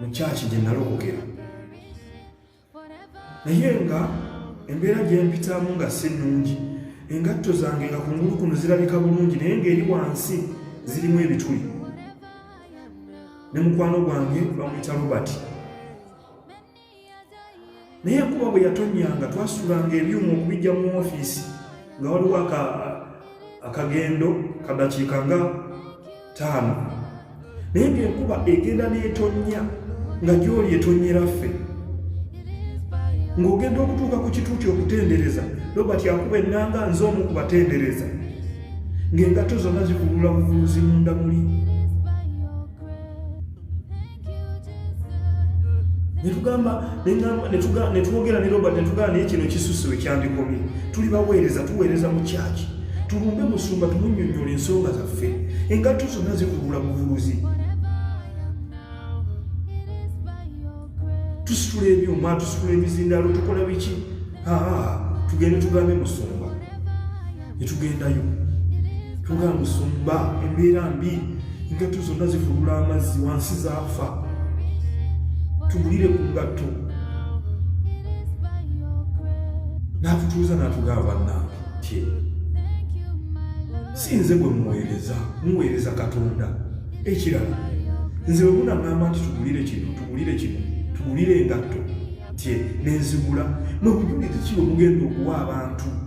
mu kyaki gye nalokokera naye nga embeera gyempitamu nga si nnungi engatto zange nga ku ngulu kuno zirabika bulungi naye ng'eri wansi zirimu ebituli ne mukwano gwange bamuyita robert naye enkuba bwe yatonyanga twasulanga ebyuma okubijja mu ofiisi nga waliwo akagendo kadakiika nga taano naye ngaenkuba egenda netonya nga gyoli etonyera ffe ng'ogenda okutuuka ku kituuti okutendereza robert akuba ennanga nze omu ku batendereza ng'engatto zonna zivulula buvuluzi munda muli netugamba netwogera ne robert netugamba naye kino kisusi wekyandikomye tuli baweereza tuweereza mu kyaki tulumbe musumba tumunyonyola ensonga zaffe engatto zonna zivulula buvuruzi tusitula ebyuma tusitula ebizindalo tukola biki tugende tugambe musumba ne tugendayo tugaa musumba embeera mbi engatto zonna zifulula amazzi wansi zaafa tugulire ku ngatto n'atutuuza n'atugaa bannange tye si nze gwe muweereza muweereza katonda ekirala nze bwe munagamba nti tugulire kino tugulire kino tugulire engatto tye nenzigula mwe bujulire ki bwe mugenda okuwa abantu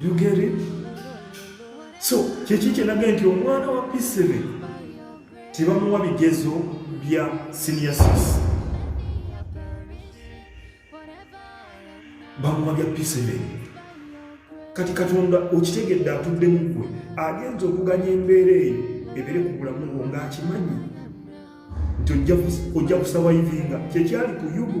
You get it? So, kyeki kyenaga nti omwana wa P7 tebamuwa bigezo bya senior six. Bamuwa bya P7. Kati Katonda okitegedde atudde mu gwe agenza okuganya embeera eyo ebere ku bulamu bwo ng'akimanyi nti ojja kusawayivinga kyekyali ku yubu